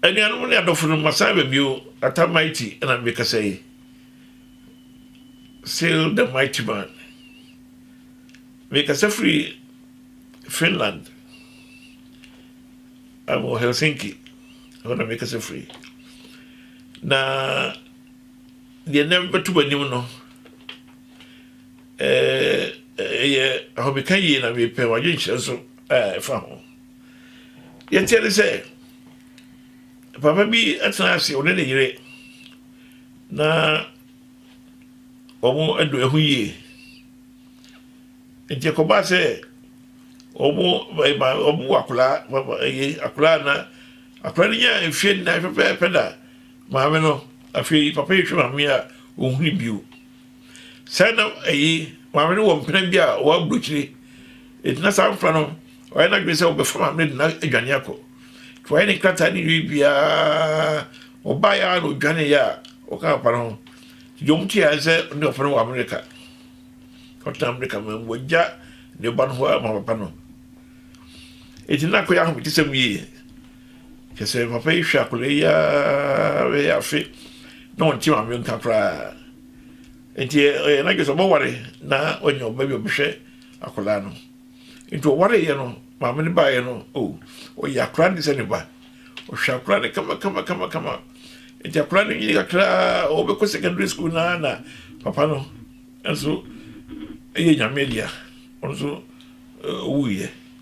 anuanom ne adɔfo no masan aba bio ata mighty ɛna mekasa yi still the mighty man mekasa firi finland I'm helsinki ɛhɔ na mekasa firi na Deɛ na ɛbɛto m'anim no, ɛyɛ ahomeka yie na mepɛ w'adwenkyerɛ nso a ɛfa ho. Deɛ teɛ ne sɛ, papa bi atena ase ɔne ne yere na wɔn adu ɛho yie. Nti ɛkɔba sɛ wɔn wɔn wɔ akwadaa ɛyɛ akwadaa na akwadaa no nya mfeɛ nnan pɛpɛɛpɛ da Maame no, afei papa yi hwɛ maame a ɔnhunu bio. Sɛn na ɛyi maame no wɔ mpena bi a ɔwɔ aburokyire. Enti na saa mfra no, ɔyɛ n'adwene sɛ ɔbɛfa maame no de no adwane akɔ. Nti wayɛ ne nkrataa ne wie biara, ɔbaeɛ ara na ɔdwaneeɛ a ɔka papa no ho. Nti deɛ ɔte ara sɛ ɔne papa no wɔ Amerika. Ɔtena Amerika ma mu, wagya ne ba no hɔ ara ma papa no. Enti na akɔyɛ ahometesɛm yie. Kyerɛ sɛ papa yi hwɛ akwadaa yi ara bɛyɛ afe na ɔnte maame no nka koraa nti ɔyɛ n'adwene sɛ ɔbɛware na ɔnya ɔba bi ɔbɛhwɛ akwadaa no nti ɔwareyɛ no maame no baeɛ no o oh, ɔyɛ akwadaa no sɛ ne ba ɔhwɛ akwadaa no kama kama kama kama nti akwadaa no nyini kakraa ɔbɛkɔ secondary school naa na papa no nso ɛyɛ nyame dea ɔno nso ɔwuiɛ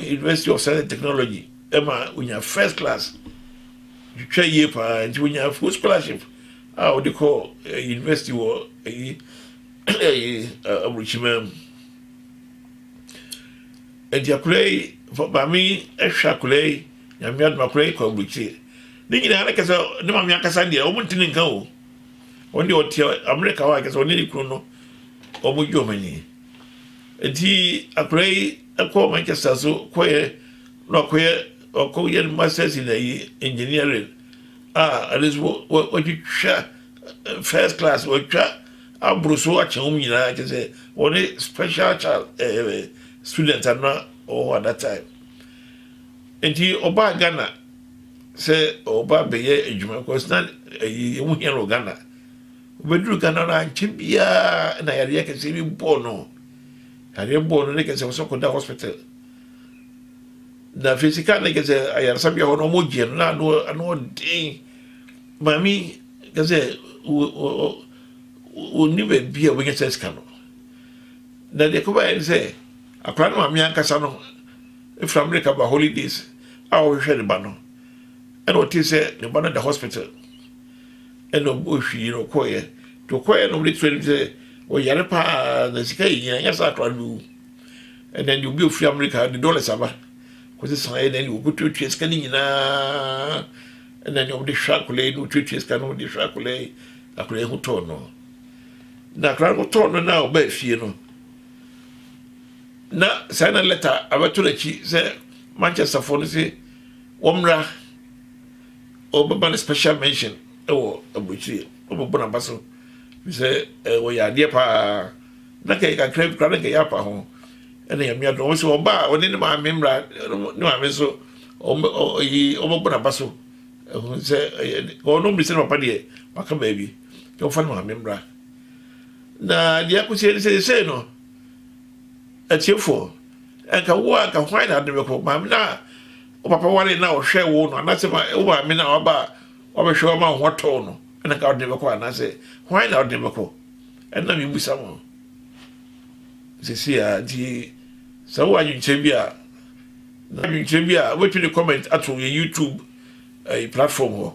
university of science and technology ɛma onya first class twitwa yie paa nti onya full scholarship a ɔde kɔ eh, university wɔ ɛyi ɛyi aburukyima mu nti akora yi maame ɛhwɛ akora yi nyame adum akora yi kɔ aburukyire ne nyinaa ne kasa ne maame ankasa deɛ wɔn ti ne nka o wɔn deɛ ɔte amerika hɔ a kasa wɔn ne ne kunu no wɔn gye wɔn ani. Enti akwadaa yi kɔɔ Manchester so kɔyɛ na ɔkɔyɛ ɔkɔyɛ ne masters in ayi engineering a ɛde nso wɔatwitwa first class wɔatwa aboro so akyɛ wɔn nyinaa kyɛ sɛ wɔne special child ɛɛ eh, eh, student ana ɔwɔ hɔ at that time nti ɔbaa Ghana sɛ ɔba bɛyɛ adwuma kɔsina ɛyi ɛmu hia no Ghana. Obeduruu Ghana no ankyɛ biara na yareɛ kɛseɛ bi bɔɔ no. Yareɛ bɔɔ no ne kɛsɛ ɔsɛ kɔda hospital. Na afei sika ne kɛsɛ ayaresabea hɔ no ɔmo gyeɛ no na ano ano ɔden. Maame kɛsɛ wɔnni baabi a wɔbɛnya sɛ sika no. Na deɛ ɛkɔbaeɛ ne sɛ akwadaa no maame ankasa no firi Amerika ba holidays a ɔhwehwɛ ne ba no ɛna ɔtee sɛ ne ba no da hospital. ɛna ɔbɔɔ hwii na ɔkɔeɛ nti ɔkɔeɛ na ɔmde to anim sɛ ɔyare paa na sika yɛ nyina nyɛ sɛ akora no bɛwu ɛna deɛ obi ofiri amerika de dollars aba kɔsɛ saeɛ na ɛne ɔkɔtuatua sika no nyinaa ɛna ne ɔmde hwɛ akora yi na ɔtuatua sika no ɔmde hwɛ akora yi akora yi ho tɔɔ no na akora no ho tɔɔ no na ɔbaa fie no na saa na lɛta abɛto n'akyi sɛ manchesterfoɔ no se wɔmmra Wɔbɛma no special mention wɔ aburokyire. Wɔbɛbɔ no aba so. Ɛfiri sɛ eh, wɔyɛ adeɛ paa. Na kɛyɛ kakra bi koraa na kɛyɛ apa ho. Ɛna Nyame adom. Wɔn sɛ ɔba a ɔne ne maame mmra ne maame nso ɔyi wɔbɛbɔ no aba so. Ɛho sɛ ɔno mmiri sɛ ne papa deɛ waka baabi. Nti wɔfa ne maame mmra. Na deɛ akɔsi ɛne sɛ sɛ no atiefoɔ ɛnka wo a nka hwan na ade bɛkɔ maame no a Wo papa waree no a ɔhwɛɛ wo no, anaasɛ wo maame no a waba a wabɛhwɛ wo ama wo ho tɔɔ no na nka wode no bɛkɔ anaasɛ hwan na wode no bɛkɔ? Ɛnna mebisa mo seesei a. Nti sɛ wowɔ adwenkyerɛ bi a, na adwenkyerɛ bi a wobɛtumi de comment ato yɛ YouTube ɛyi eh, platform hɔ.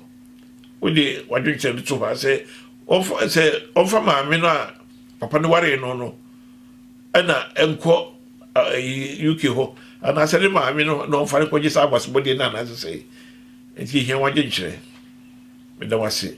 Wode w'adwenkyerɛ no to hɔ a sɛ ɔmfa sɛ ɔmfa maame no a papa no waree no no ɛna ɛnkɔ UK hɔ anaasɛ ne maame no na ɔmfa no kɔgye saa akwasebɔdeɛ no anaasɛ sɛ nti ɛhia wagye nkyerɛ meda w ase